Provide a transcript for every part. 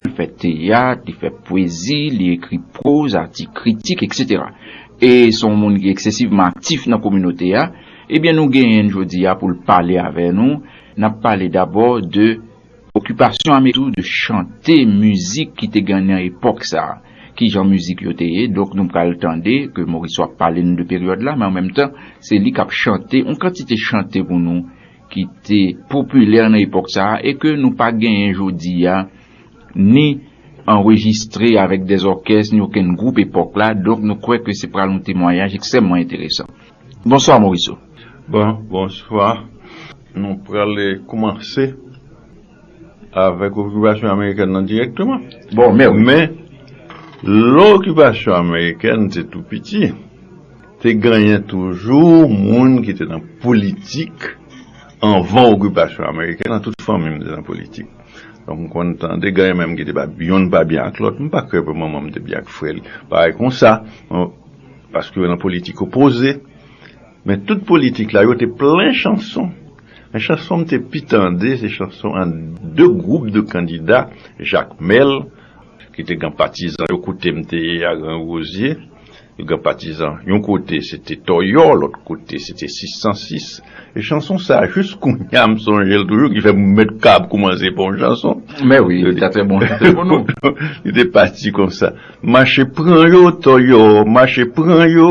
Li fè teyat, li fè pwezi, li ekri pwoz, atik kritik, eksetera. E se yon moun ki eksesivman aktif nan kominote a. Ebyen nou genyen n jodi a pou l pale avè nou. N ap pale dabò de okipasyon Ameriken yo, de chante, mizik ki te gen nan epòk sa a. Ki jan mizik yo te ye. Donk nou pral tande ke Morisseau ap pale nou de peryòd la men an menm tan se li k ap chante yon kantite chante pou nou. ki te popilè nan epòk sa a e ke nou pa genyen jodi a, ni anrejistre avèk dè zòkès ni okenn gwoup epòk la, donk nou kwè ke se pral yon temwayaj ekstrèmman enteresan. Bonswa Moriso. Bon, bonswa. Nou prale koumanse. avèk okipasyon amerikèn nan dirèkteman. Bon, mè wi. Men, lè okipasyon amerikèn te tou piti, te genyen toujou moun ki te nan politik anvan okipasyon amerikèn nan, tout fanmi m te nan politik. Donk m konn tande genyen menm ki te pa byen, youn pa byen ak lòt, m pa kwè pou manman m te byen ak frè li, bagay konsa, paske yo nan politik opoze. Men tout politik la yo te plen chanson. Men chanson m te pi tande se chanson ant 2 gwoup de kandida, Jakmèl ki te gen patizan yo kote m te ye a Gran Rozye, yo gen patizan yon kote se te Tòyò, lòt kote se te 606. E chanson sa a jis kounye a m sonje l toujou ki fè m mèt kab koumanse fè yon chanson. Mè wi, li ta trè bon chante pou nou. Li te pati konsa. Mache pran yo Tòyò, mache pran yo.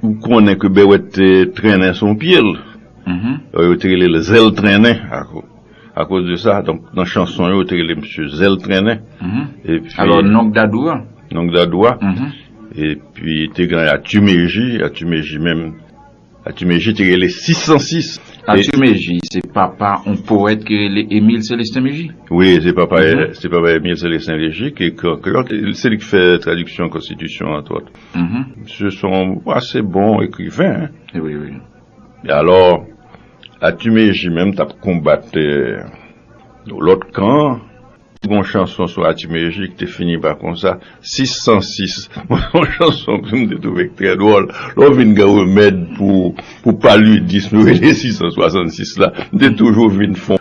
Ou konnen ke Berrouët te trennen sou yon pye l. Yo te rele l Zèl Trennen akoz de sa. Donk, nan chanson yo, yo te rele misye Zèl Trennen. Alò, Nonk Dadou a? Nonk Dadou a. Epi, te gen Atimeji. Atimeji menm, Atimeji te rele 606. Atimeji, se papa yon powèt ki rele Emile Célestin Mégie? Wi, se papa Emile Célestin Mégie ki ekri an kreyòl. Se li ki fè tradiksyon konstitisyon an, antwòt. Msye se yon ase bon ekriven. E alò, Atimeji menm t ap konbat yon lòt kan. Gon chanson sou Atimeji ki te fini pa konsa, 606. Mwen se yon chanson ke m te twouve ki trè dwòl. Lè w vin gen remèd pou palidism yo rele 666 la, m te toujou vin fon.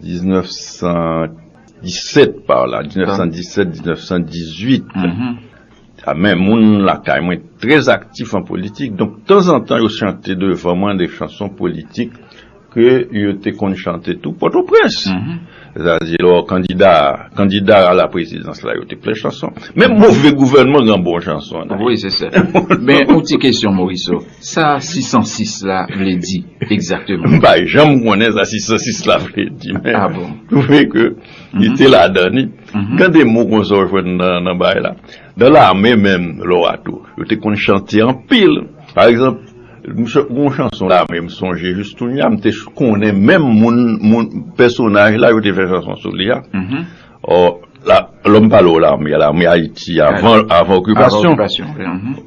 1917 pa w la, 1917, 1918, a men moun lakay mwen trèz aktif an politik, donk tanzantan yo chante devan mwen de chanson politik ke yo te konn chante tou Pòtoprens. Zazye lò kandida, kandida a la prezidans la yo te plen chanson. Menm move gouvènman gen bon chanson nan. Wi se sèten. Men yon ti kesyon Moriso. Sa 606 la vle di egzakteman? M pa janm konnen sa 606 la vle di men twouve ke li te ladan li. Gen de mo konsa w jwenn nan bagay la. Nan lame menm lè w a tou, yo te konn chante anpil. Pa egzanp, gen yon chanson lame m sonje jis kounya, m te konnen menm moun, moun, pèsonaj la yo te fè chanson sou li a. Or, lòm pale ou lame, lame Ayiti avan okipasyon,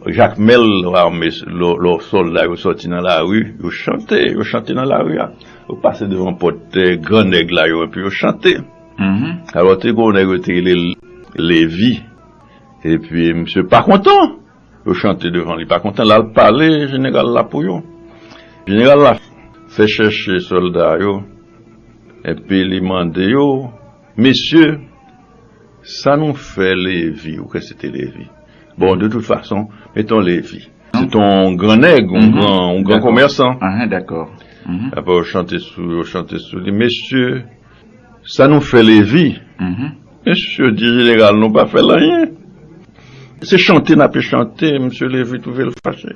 Jakmèl lame, lò sòlda yo sòti nan lari, yo chante, yo chante nan lari a. Yo pase devan pòt gran nèg la yo, epi yo chante. Alò, te gen yon nèg yo te rele l Levi, epi misye pa kontan. Yo chante devan li pa kontan. Lal pale jeneral la pou yo. Jeneral la fè chèche sòlda yo epi li mande yo, Mesye, sa nou fè Levi, ou kwè se te Levi? Bon, de tout fason, meton Levi. Se te yon gran nèg, yon gran komèsan. Ape yo chante sou li, Mesye. Sa nou fè Levi? Mesye di jeneral nou pa fè l anyen. Se chante n ape chante, mesye Levi twouve l fache.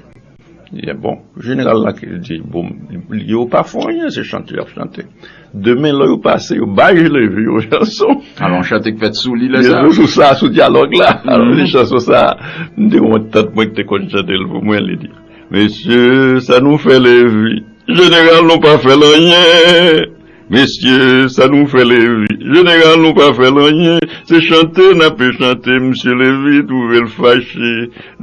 Li di, bon, jeneral la ki di, bon, yo pa fè w anyen, se chante y ap chante. Demen lò yo pase, yo bay Levi yon chanson. Alon chante k fèt sou li lè sa a. Yo jwe sou sa, sou dyalòg la. Alon li chanson sa a, m te wont tant mwen ki te konn chante l pou mwen. Li di, mesye sa nou fè Levi? Jeneral nou pa fè l anyen. Mesye sa nou fè levi. General nou pa fèl anyen se chante nape chante misye levi trouvel fache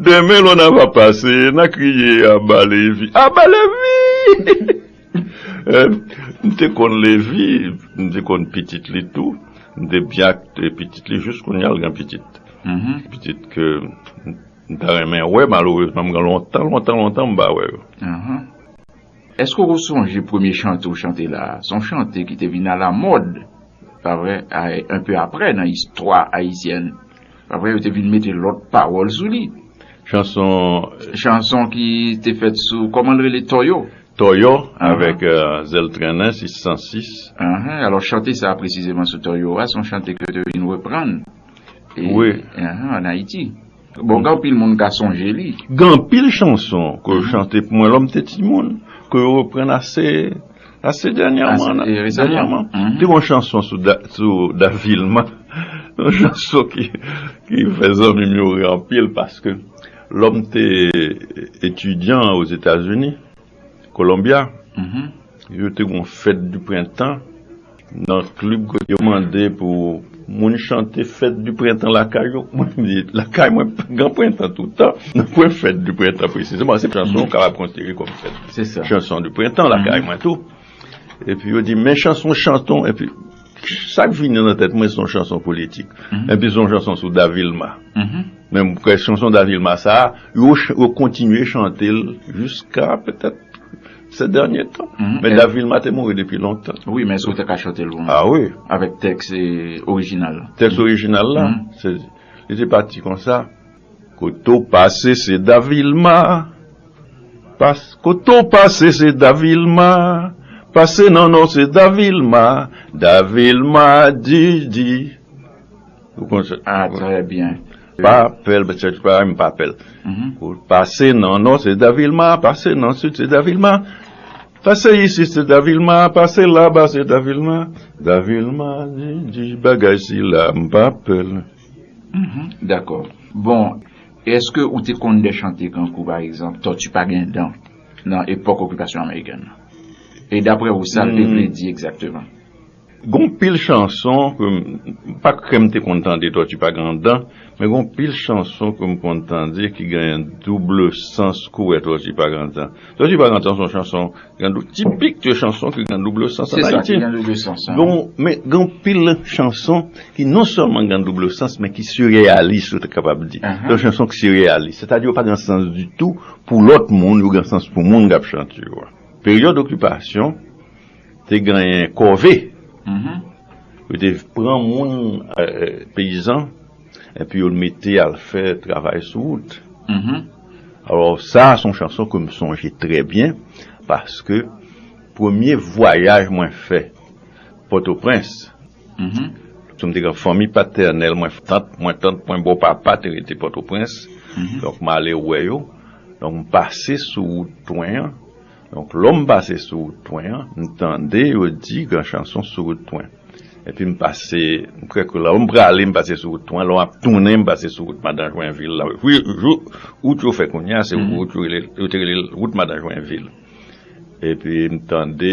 demen lò na va pase na kriye aba levi aba levi m te konn levi m te konn pitit li tou m te byen ak pitit li jis kounya l gen pitit pitit ke m ta renmen wè malorezman m gen lontan lontan lontan m pa wè yo. Eske ou sonje premye chante ou chante la a? Se yon chante ki te vin alamòd, pa vre, enpe apre nan istwa ayisyèn. Pa vre, yo te vin mete lòt pawòl sou li. Chanson. Chanson ki te fèt sou, kòman l rele, Tòyò. Tòyò, avèk Zèl Trennen, se 106. Anhan, alò chante sa a presizeman sou Tòyò a, se yon chante ke yo te vin reprann. Wi. Anhan, ann Ayiti. Bon gen anpil moun ka sonje li. Gen anpil chanson ke yo chante pou mwen lò m te timoun, ke yo reprann ase, ase dènyèman nan. Ase resaman. Te gen yon chanson sou Da Vilma, yon chanson ki fè zanmi m yo ri anpil paske lò m te etidyan Ozetazini, Colombia, yo te gen yon fèt di prentan nan klib kote yo mande pou moun chante fèt di prentan lakay yo. Mwen m di, lakay mwen gen prentan toutan, nan pwen fèt di prentan presizeman. Se chanson ou kapab konsidere kòm fèt, chanson di prentan lakay mwen tou. Epi yo di men chanson chanton epi sak vini nan tèt mwen son chanson politik mm-hmm. epi son chanson sou Davilma mm-hmm. men kwen chanson Davilma sa yo kontinye chante l jiska petèt se dènye tan mm-hmm. men Davilma te mouri depi lontan oui men sou te ka chante l ah oui avèk tèks orijinal tèks orijinal la se li te pati konsa Kote w pase se Davilma Pase Kote w pase se Davilma Pase nan Nò se Davilma Davilma di di Ou konn sa Ah trè byen Pa pè l Chèche l pa M pa pè l Pase nan Nò se Davilma Pase nan Sid se Davilma Pase isit se Davilma Pase laba se Davilma Davilma di di Bagay sila M pa pè l Dakò. Bon, èske ou te konn de chante kankou pa egzanp Tòti pa gen dan nan epòk okipasyon amerikèn nan? E daprè ou sa l te vle di egzakteman? Gon pil chanson ke m, m pa kwè m te konn tande Tòti pa gen dan, men gon pil chanson ke m konn tande ki genyen double sans kouwè Tòti pa gen dan. Sò di pa gantan son chanson gandou tipik de chanson ke gandou bleu sans an ayiti. Se sa ki gandou bleu sans an. Men gen yon pil chanson ki non sèlman gandou bleu sans men ki sireyalis ou ta kapab di. Yon chanson ki sireyalis. Se ta di yo pa gen sans ditou pou lòt moun yo gen sans pou moun kap chante yo a. Peryòd okipasyon te genyen kòve. Yo te pran moun peyizan. Epi yo mete al fè travay sou wout. Alò sa a se yon chanson ke m sonje trè byen paske premye vwayaj mwen fè Pòtoprens, paske m te gen fanmi patènèl mwen, tant mwen, tant mwen bò papa te rete Pòtoprens, donk m ale wè yo, donk m pase sou wout Twen an. Donk lò m pase sou wout pwen an, m tande yo di gran chanson sou wout pwen. Epi m pase, m kwè ke lò m prale m pase sou wout pwen, lò m ap tounen m pase sou wout Madan Jwenvil la. Wi, jou, wout yo fè kounye a se wout yo rele, yo te rele l wout Madan Jwenvil. Epi m tande.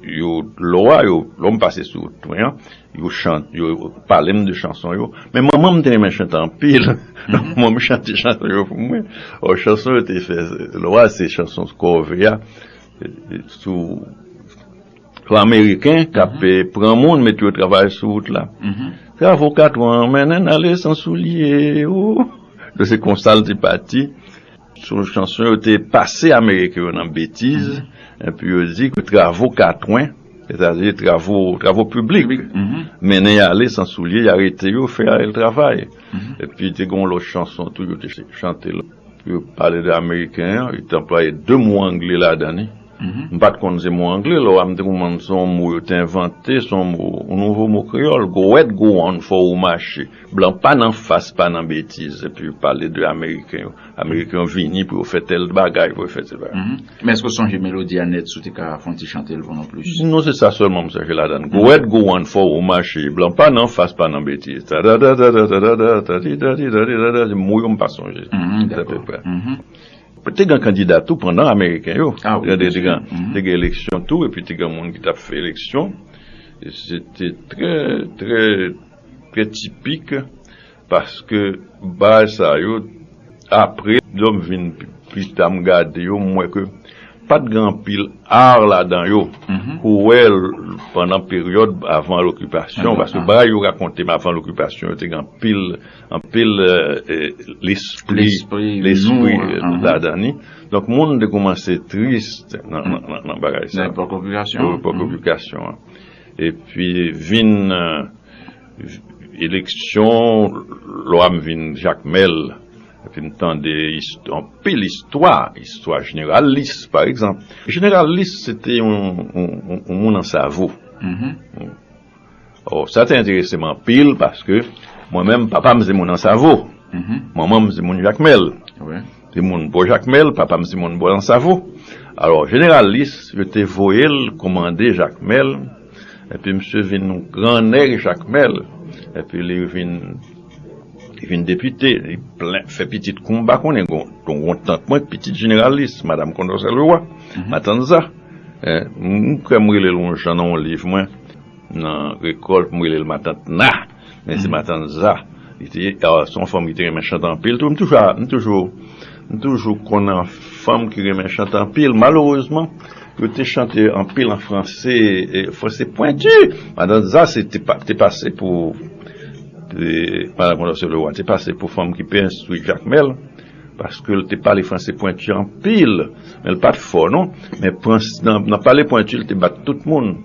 Yo lò a yo, lò m pase sou wout mwen an, yo chan, yo pale m de chanson yo. Men manman m te renmen chante anpil. Manman m chante chanson yo pou mwen. Ò chanson yo te fè lò a se chanson kòve a sou sou ameriken k ap pran moun mete yo travay sou wout la. Travo katran mennen n ale san soulye o. Donk se konsa l te pati. Sou chanson yo te pase Ameriken yo nan betiz, enpi yo di ke travo katwen, sètadi travo piblik, mennen y ale san soulye, y arete yo, fè Ariel travay. Enpi te gen yon lòt chanson tou yo te chante pou yo pale de Ameriken an, yo te anplwaye de mo angle ladan li. M pa t konn se mo angle, lè w a m te konprann se yon mo yo te envante, se yon mo, yon nouvo mo kreyòl, go wèt go wonn, fò ou mache. Blan pa nan fas, pa nan betiz, epi yo pale de ameriken yo, ameriken yo vini pou yo fè tèl bagay, pou yo fè tèl bagay. Men èske w sonje melodi a nèt si w te ka fon ti chante l pou nou plis? Non se sa sèlman m sonje ladan l, go wèt go wonn, fò ou mache, blan pa nan fas, pa nan betiz, tadadadadadadada, tadidadidadidada, se mo yo m pa sonje, se apeprè. Te gen kandida tou pandan ameriken yo. A wi, te gen. Te gen eleksyon tou epi te gen moun ki t ap fè eleksyon. Se te trè, trè, trè tipik paske baz sa yo apre lè m vin pi ta m gade yo m wè ke pa t gen anpil ar ladan yo pou wè pandan peryòd avan lokipasyon paske bagay yo rakonte m avan lokipasyon yo te gen anpil Anpil lespri nou ladan li. Donk moun te koumanse tris nan bagay sa. Nan epòk okipasyon. Nan epòk okipasyon an. E pi vin eleksyon, lwa m vin Jakmèl. E pi m tande anpil istwa. Istwa Jeneral Lis, pa egzanp. Jeneral Lis se te yon moun an savo. Oh sa te enterese m anpil paske mwen menm papa m se moun Ansavo, manman m se moun Jakmèl, se moun bò Jakmèl, papa m se moun bò Ansavo. Alò jeneralis yo te voye l komande Jakmèl epi misye vin yon gran nèg Jakmèl epi li vin li vin depite, li plen fè pitit kou m pa konnen, gen yon tant mwen ki pitit jeneralis, madam Kondòsè Lewa, matanza. M kwè m rele l yon jan nan yon liv mwen, nan rekòlt, m rele l Matant Na, men se Matant Za li te ye. Se yon fanm ki te renmen chante anpil tou. M toujou konn fanm ki renmen chante anpil. Malerezman, yo te chante anpil an franse, franse pwenti. Matant Za te pase pou Madan Kondòsye Lewa, te pase pou fanm ki pi enstwi Jakmèl. Paske l te pale franse pwenti anpil. Men l pa t fò non. Men nan pale pwenti l te bat tout moun.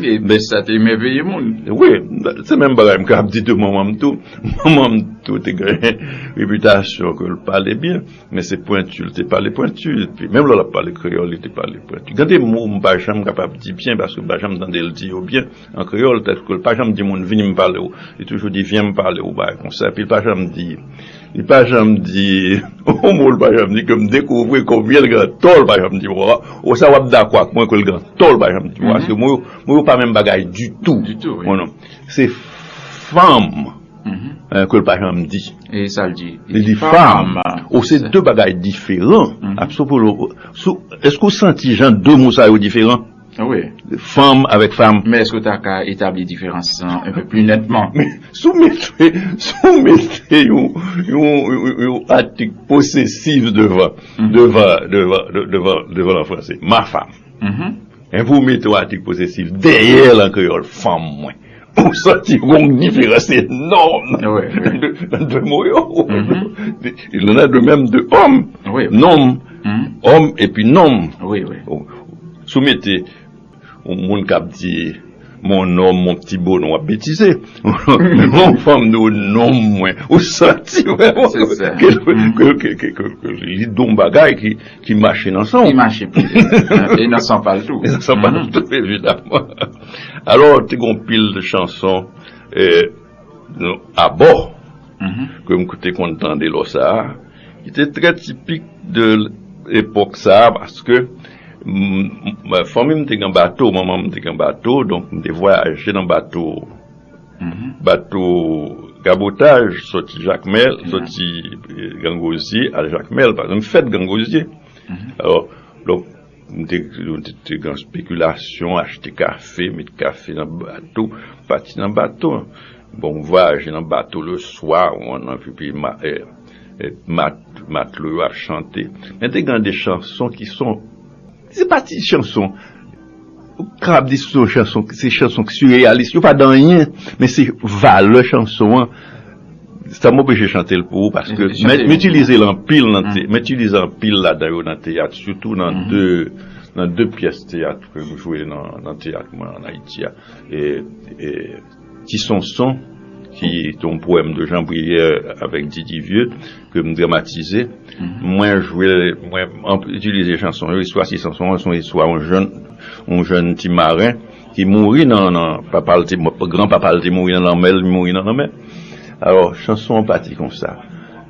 E sa te emèveye moun. Wi. Se menm bagay m ka ap di de manman m tou. Manman m tou te gen repitasyon ke l pale byen. Men se pwenti l te pale pwenti. Menm lè l ap pale kreyòl li te pale pwenti. Gen de mo m pa janm kapab di byen paske m pa janm tande l di yo byen an kreyòl. Tankou l pa janm di moun vini m pale w. Li toujou di vyen m pale w bagay konsa. Epi l pa janm di Li pa janm di yon mo, li pa janm di ke m dekouvri konbyen l gen tò, li pa janm di mwa. O sa w ap dakò ak mwen ke l gen tò, li pa janm di mwa. Paske mo yo, mo yo pa menm bagay ditou. Ditou wi. Konnen w. Se fanm ke l pa janm di. E sa l di? Li di fanm. O se de bagay diferan. Apso pou l, sou, èske ou santi jan de mo sa yo diferan? Fanm avèk fanm. Men èske w ta ka etabli diferans lan un peu plus netman? Men, si w mete, si w mete yon, yon, yon atik posesif devan, devan, devan, devan, devan l an franse, ma femme. Enpi w mete yon atik posesif dèyè l an kreyòl, fanm mwen. Ou santi gonk diferans enòm nan 2 mo yo. Il en a de mèm de òm, nonm, òm epi nonm. Si w mete yon moun k ap di mon homme, mon petit bonhomme w ap betize. Men lè yon fanm di w nonm mwen, ou santi ke li di w yon bagay ki mache nan san w. Ki mache pou li. E nan san pa l tou. E nan san pa l tou evidaman. Alò te gen yon pil chanson abò ke m te konn tande lò sa a, ki te trè tipik de epòk sa a paske fanmi m te gen bato, manman m te gen bato, donk m te vwayaje nan bato, bato kabotaj soti Jakmèl, soti Grangozye al Jakmèl, paske m fèt Grangozye. M te gen yon spekilasyon achte kafe, met kafe nan bato, pati nan bato. Bon m vwayaje nan bato le swa, mwen anvi pi ma e matlo yo ap chante. Men te gen de chanson ki son, se pa ti chanson. Ou pa kapab di sou yon chanson ki se chanson ki sireyalis. Yo pa de anyen. Men se valè chanson an. Sa m oblije chante l pou ou paske m itilize l anpil nan teyat. M itilize anpil ladan yo nan teyat. Sitou nan de pyès teyat ke m jwe nan teyat mwen an Ayiti a. Ti Sonson ki te yon powèm de Jean Brière avèk Didi Vieux ke m dramatize. Mwen jwe, mwen itilize chanson yo. Istwa Ti Sonson an se yon istwa yon jèn, yon jèn ti maren ki mouri nan, nan, papa l te, gran papa l te mouri nan lanmè, li mouri nan lanmè. Alò, chanson an pati konsa.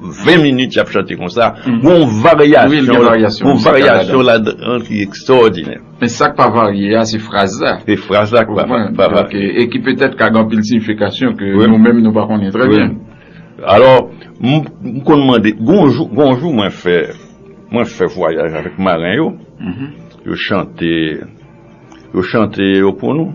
20 minit yap chante konsa Gon varyasyon la dan ki ekstòdinè Men sak pa varye a se fraz la Se fraz la ki pa varye a E ki petèt ka gen anpil siyifikasyon ke nou menm nou pa konnen trè byen Alò m konn mande Gon jou mwen fè Mwen fè vwayaj avèk maren yo Yo chante Yo chante yo pou nou.